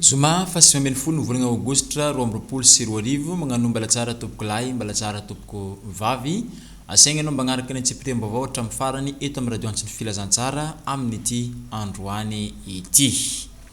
Zoma faha sivy ambin'ny folo ny volana aogositra roa amby roapolo sy roa arivo, Magnano mbalatsara tompoko lahy, mbalatsara tompoko vavy. Asaigna anao mbagnaraka ny antsipitem-baovao hatramin'ny farany eto amin'ny radio Antso ny Filazantsara amin'ity androany ity.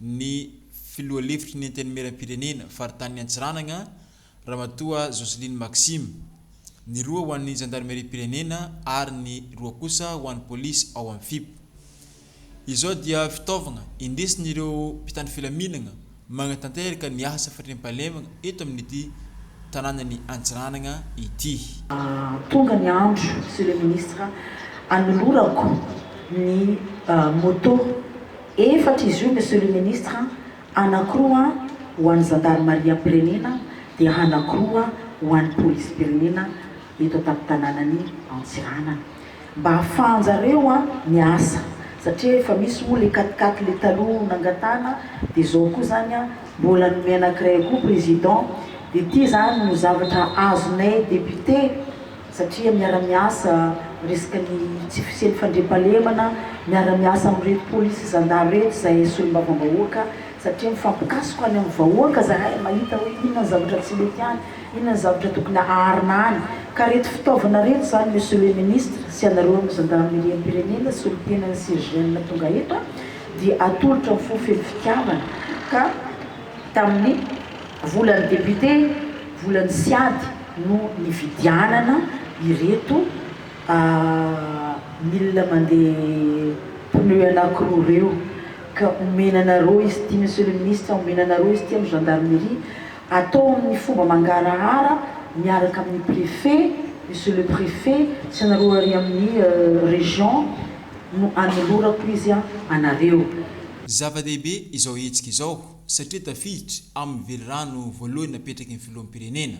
ny filoha lefitry ny Antenimierampirenena faritanin'i Antsiranana, Ramatoa Jocelyne Maxime, ny roa ho an'ny Zandarimeriam-pirenena ary ny roa kosa ho an'ny polisy ao amin'ny Fip. Izao dia fitaovagna indesin'ireo mpitandro filaminagna magnatanteraka ny asa fandriampahalemagna eto amin'ity tanànan'i Antsiranana ity. Tonga ny andro, Monsieur le Ministre, hanolorako ny moto. Efatra izy io Monsieur le Ministre, anankiroa ho an'ny zandarimariam-pirenena dia anankiroa ho an'ny polisim-pirenena eto an-tampon-tanànan'i Antsiranana. Mba ahafahan-jareo miasa satria efa misy moa le quat-quatre le taloha nangatahana dia zao koa zany mbola nomey anankiray koa Président, dia ity zany no zavatra azonay Député. satria miara-miasa miresaka ny tsy fisian'ny fandriampahalemana, miara-miasa amin'ireto polisy sy zandary ireto izahay solombavambahoaka satria mifampikasoka any amin'ny vahoaka izahay mahita hoe inona ny zavatra tsy mety any, inona ny zavatra tokony aharina any ka ireto fitaovana ireto izany Monsieur le Ministre sy ianareo amin'ny Zandarimeriam-pirenena solontenan'ny CGM tonga eto dia atolotra amin'ny fo feno fitiavana ka tamin'ny Volan'ny député, volan'ny siad no nividianana ireto milina mandeha pneu anakiroa ireo ka omena anareo izy ity Monsieur le Ministre, omena anareo izy ity amin'ny gendarmerie, atao amin'ny fomba mangarahara miaraka amin'ny préfet, Monsieur le Préfet, sy anareo ary amin'ny région no anolorako izy anareo. Zava-dehibe izao hetsika izao. satria tafiditra amin'ny velirano voalohany napetraky ny filoham-pirenena,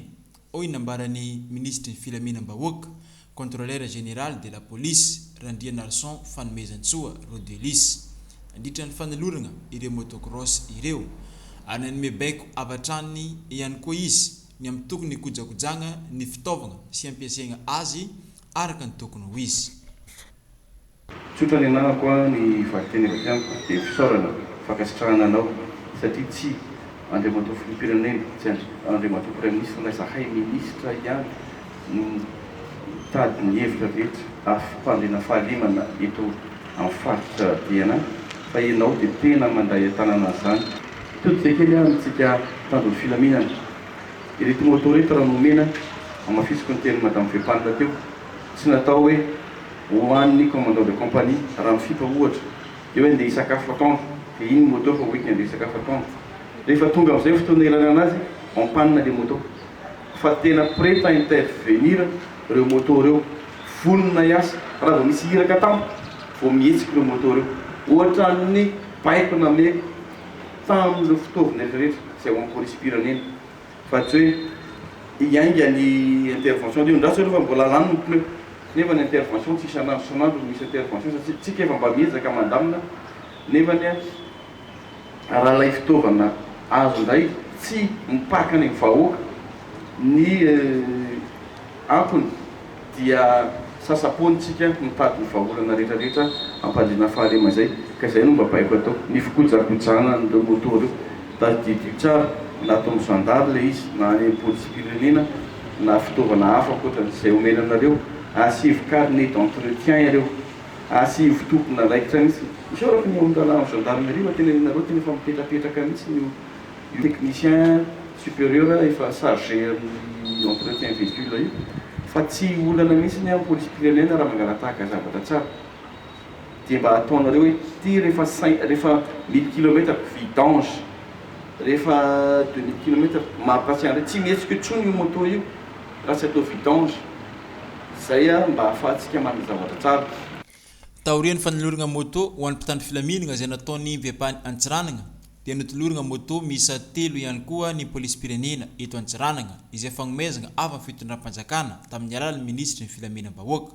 hoy ny nambaran'ny minisitry ny filaminam-bahoaka, Contrôleur général de la police, Randrianarison Fanomezantsoa Rodelus, nandritra ny fanolorana ireo motocross ireo, ary nanome baiko avy hatrany ihany koa izy ny amin'ny tokony hikojakojana ny fitaovana sy hampiasaina azy araka ny tokony ho izy. Tsotra ny anarako a ny valinteny avy aty amiko dia fisaorana fankasitrahana anao satria tsy Andriamatoa Filoham-pirenena tsy Andriamatoa Praiminisitra fa izahay Minisitra ihany no mitady ny hevitra rehetra afim-pandriana fahalemana eto amin'ny faritra Diana fa ianao dia tena mandray an-tanana an'izany. Mitody izay kely aho amintsika mpitandro ny filaminana. Ireto moto reto raha nomena, hamafisiko ny tenin'i Madame Fepanina teo, tsy natao hoe ho an'ny commandant de compagnie raha mifipa ohatra dia hoe andeha hisakafo atoandro dia iny moto fa hoentiny andeha hisakafo atoandro rehefa tonga amin'izay fotoana ilanana azy en panne ilay moto fa tena prête à intervenir ireo moto ireo vonona hiasa raha vao misy iraka tampoka vao mihetsika ireo moto ireo ohatran'ny baiko nameko tamin'ireo fitaovana rehetra rehetra izay ao am-polisim-pirenena Fa tsy hoe hiainga ny intervention dia andraso aloha fa mbola lany ny pneu. Nefa ny intervention tsy isan'andro isan'andro no misy intervention satria isika efa mba miezaka mandamina nefa ny raha ilay fitaovana azo indray tsy mipaka any amin'ny vahoaka ny antony dia sasa-poana isika mitady ny vahaolana rehetrarehetra hampandriana fahalema izay, ka izay no mba baiko atao, ny fikojakojana an'ireo moto ireo, tadidio tsara na ataon'ny zandary ilay izy na any amin'ny polisim-pirenena na fitaovana hafa ankoatran'izay omena anareo, asivo carnet d'entretien ireo, asivo tompona raikitra mihitsy, isaorako ny ao amin'ny lalàna ny gendarmerie fa tena ianareo tena efa mipetrapetraka mihitsy io. Io technicien superieur efa chargé amin'ny entretien véhicule io fa tsy olana mihitsy ny amin'ny polisim-pirenena raha mangalatahaka zavatra tsara dia mba ataonareo hoe ity rehefa cinq rehefa mille kilometares vidange rehefa deux mille kilometares mampatsiahy an'ireny tsy mihetsika intsony io moto io raha tsy atao vidange izay mba ahafahantsika manana zavatra tsara. Taorian'ny fanolorana moto ho an'ny mpitandro filaminana izay nataon'ny Vepany Antsiranana dia notolorana moto miisa telo ihany koa ny Polisim-pirenena eto Antsiranana izay fagnomezana avy amin'ny fitondram-panjakana tamin'ny alalan'ny Minisitry ny Filaminam-bahoaka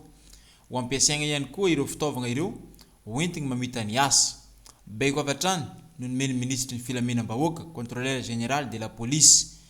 ho ampiasaina ihany koa ireo fitaovana ireo ho entiny mamita ny asa. Baiko avy hatrany no nomen'ny Minisitry ny Filaminam-bahoaka, Contrôleur Général de la Police,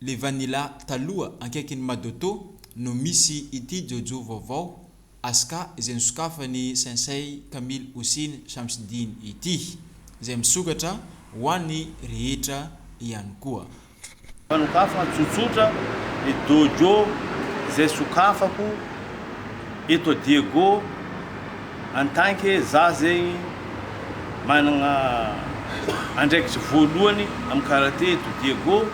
Le vanilla taloha ankaikin'ny madoto no misy ity jojo vaovao Asca izay nosokafan'i Sensei Kamil Hossein Shamsdeen ity, izay misokatra ho an'ny rehetra ihany koa. Fa nokafana tsotsotra ny dojo izay sokafako eto Diego. En tant que za zegny managna andraikitry voalohany am karate eto Diego,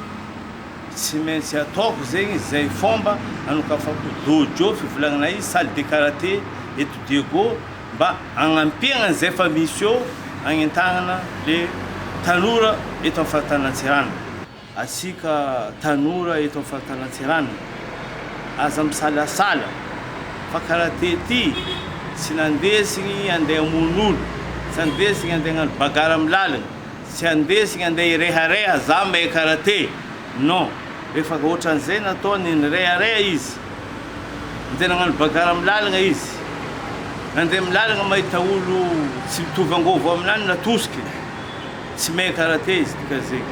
tsy maintsy ataoko zegny zay fomba anokafako dojo fivolagnanay salle de karate eto Diego mba agnampiagna an'izay fa misy eo agnentagnana le tanora eto am faritany Antsiranana. Antsika tanora eto amin'ny faritany Antsiranana, aza misalasala fa karaha tety tsy nandesigny andeha hamono olo, tsy andesigny andeha hagnano bagarre amin'ny lalagna, tsy andesigny andeha hirehareha za mahay karate, non, rehefa ohatran'izay nataony nirehareha izy, andeha nagnano bagarre amin'ny lalagna izy, nandeha amin'ny lalagna mahita olo tsy mitovy angovo aminany natosokiny. Tsy main karate izy ity ka zay.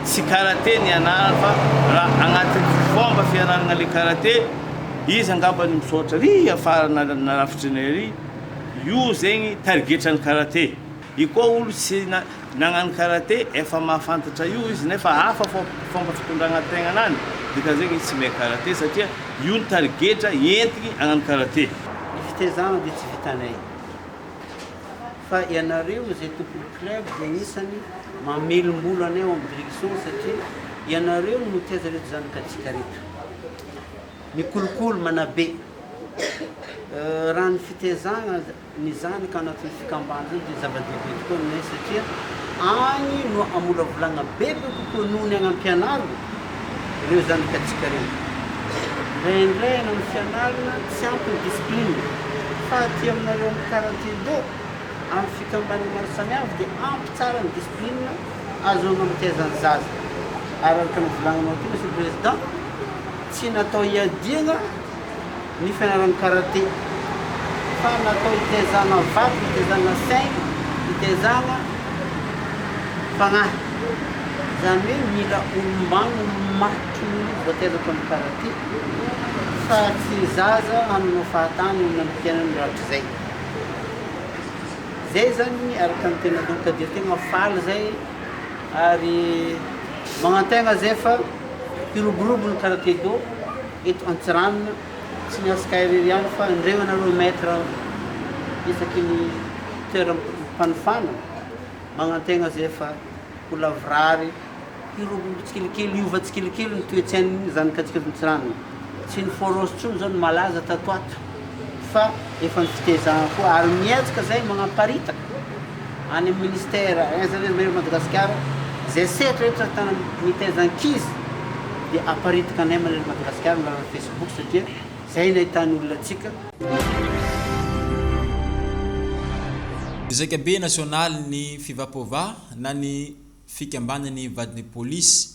Tsy karate ny anarany fa raha agnatin'ny fomba fianaragna le karate, izy angamba ny misaotra ary afara narafitry ny ary, io zegny tarigetran'ny karate. Io koa olo tsy nagnano karate efa mahafantatra io izy nefa hafa fomba fitondragna tegnanany, dikan'izegny izy tsy main karate satria io ny tarigetra entigny agnano karate. Ny fitezagna dia tsy vitanay. Fa ianareo izay tompon'ny club dia anisany mamelombolo anay ao amin'ny direction satria ianareo no tsy aza reto zany katsika reto. Mikolokolo manabe raha ny fitezagna ny zany ka anatin'ny fikamban zany dia zava-dehibe tokoa aminay satria agny no amolavolagna bebe kokoa noho ny agnampianaragna. ireo zanakatsika ireo. Indraindray ianao no fianarana, tsy ampy ny discipline. Fa aty aminareo amin'ny quarantaine do, amin'ny fikambanana maro samihafa dia ampy tsara ny discipline azo anamatehazan'ny zaza. Ary araka ny volaninao teo Monsieur le Président, tsy natao hiadiana, ny fianarana karate fa natao hitezana vato, hitezana saina, hitezana fanahy. Izany hoe mila olombany, olomaty mihitsy vao tena atao ny karate fa tsy ny zaza hananao fahatany eo amin'ny fiainany rahatrizay. Izay izany araka ny tena loka dia tegna faly izay ary magnantegna izay fa hiroborobo ny karate-do. Eto Antsiranana, tsy ny antsika irery ihany fa indreo ianareo maître isaky ny toeram-panofana magnantegna zay fa ho lavorary, hirobobo tsikelikely, hiova tsikelikely ny toe-tsain'ny zanakantsika eto Antsiranana. Tsy ny Foros intsony zao no malaza tato ho ato. fa efa ny fitezahana koa ary mihetsika izay manaparitaka any amin'ny ministère any izany ny maire Madagasikara izay sehatra rehetra ahitana mitaiza ankizy dia aparitaka anay maire Madagasikara ny lalan'ny Facebook satria izay no ahitany olona antsika. Zaikabe nasionaly ny Fivapoava na ny fikambanan'ny vadin'ny polisy.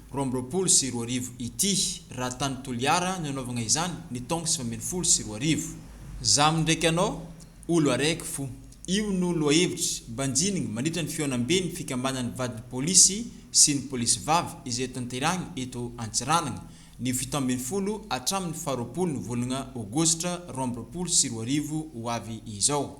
roa amby roapolo sy roa arivo ity raha tany Toliara no anaovagna izany ny taogno sivy ambin'ny folo sy roa arivo. Zam ndraiky anao olo araiky fo io no lohahevitry mbanjinigny mandritra ny fihaonambe ny fikambanan'ny vadin'ny polisy sy ny polisy vavy izay hotanterahigny eto Antsiranagna ny fito ambin'ny folo hatramin'ny faha roapolo ny volagna aogositra roa amby roapolo sy roa arivo ho avy izao.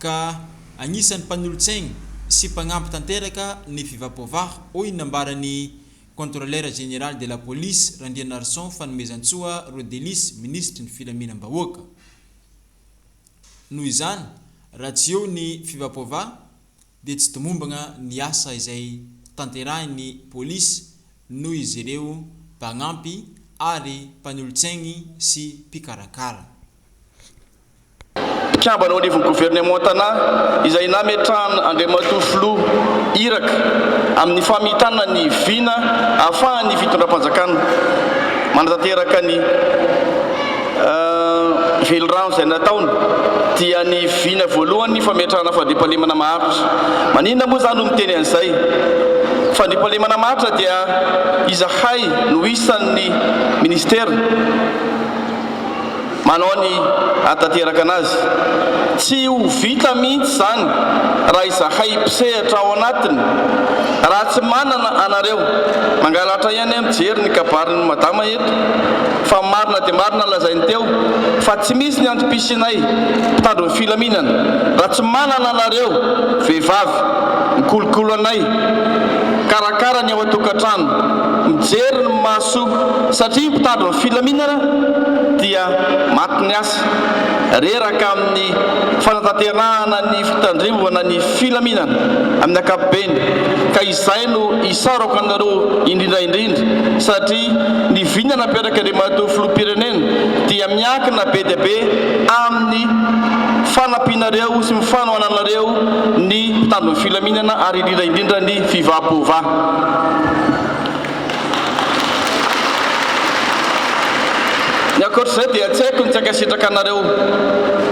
ka anisan'ny mpanolo-tsaina sy mpanampy tanteraka ny fivapôvah, hoy ny nambaran'ny Contrôleur Général de la Police, Randrianarison Fanomezantsoa Rodelis, Minisitry ny Filaminam-bahoaka. Noho izany, raha tsy eo ny fivapôvah dia tsy tomombana ny asa izay tanterahin'ny Polisy noho izy ireo mpanampy ary mpanolo-tsaigny sy mpikarakara. mpikambana ao anivon'ny governemantanà izay nametrahan' Andriamatoa Filoha Iraka amin'ny famitana ny vina ahafahan'ny fitondram-panjakana manatanteraka ny velirano izay nataony dia ny vina voalohany fametrahana fandriampahalemana maharitra. Maninona moa izaho no miteny an'izay? Fandriampahalemana maharitra dia izahay no isan'ny Minisitera. Manao ny hanatanteraka anazy. Tsy ho vita mihitsy izany raha izahay mpisehatra ao anatiny. Raha tsy manana anareo, mangalatra ihany aho mijery ny kabarin'i Madama eto fa marina dia marina lazainy teo fa tsy misy ny antom-pisianay mpitandro ny filaminana raha tsy manana anareo vehivavy mikolokolo anay, mikarakara ny ao an-tokantrano, mijery ny maso satria mpitandro ny filaminana. dia maty ny asa. Reraka amin'ny fanatanterahana ny fitandrevana ny filaminana amin'ny ankapobeny ka izay no isaorako anareo indrindra indrindra satria ny vina nampiarak'Andriamatoa Filoham-pirenena dia miankina be dia be amin'ny fanampianareo sy fanohananareo ny mpitandro ny filaminana ary indrindra indrindra ny Fivapovà. Ny ankoatr'izay dia tsy haiko ny tsy ankasitraka anareo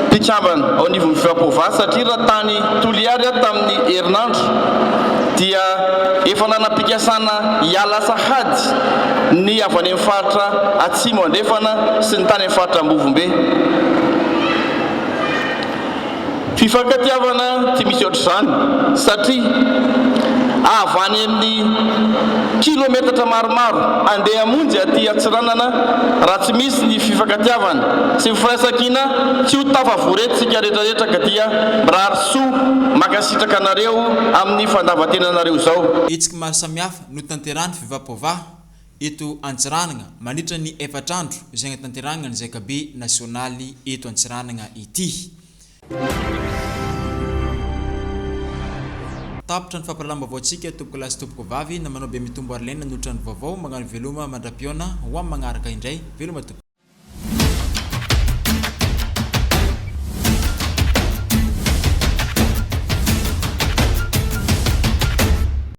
mpikambana ao anivon'ny Feapovava satria raha tany Toliary aho tamin'ny herinandro dia efa nanam-pikasana hiala sahady ny avy any amin'ny faritra Atsimo Andrefana sy ny tany amin'ny faritra Ambovombe. Fifankatiavana tsy misy ohatr'izany satria avy any amin'ny kilometatra maromaro andeha hamonjy aty Antsiranana raha tsy misy ny fifankatiavana sy ny firaisankina tsy ho tafavory eto isika retraretra ka dia mirary soa mankasitraka anareo amin'ny fandavantenanareo izao. Hetsiky maro samihafa notanterahan'ny Fivapoavaha eto Antsiranana mandritra ny efatra andro izay hanatanterahana ny Zaikabe nasionaly eto Antsiranana ity. Tapitra ny fampahalalam-baovaontsika tompokolahy sy tompokovavy na manao be mitombo ary lena ny otrano vaovao magnano veloma mandra-pihaona ho amin'ny magnaraka indray veloma tompoko.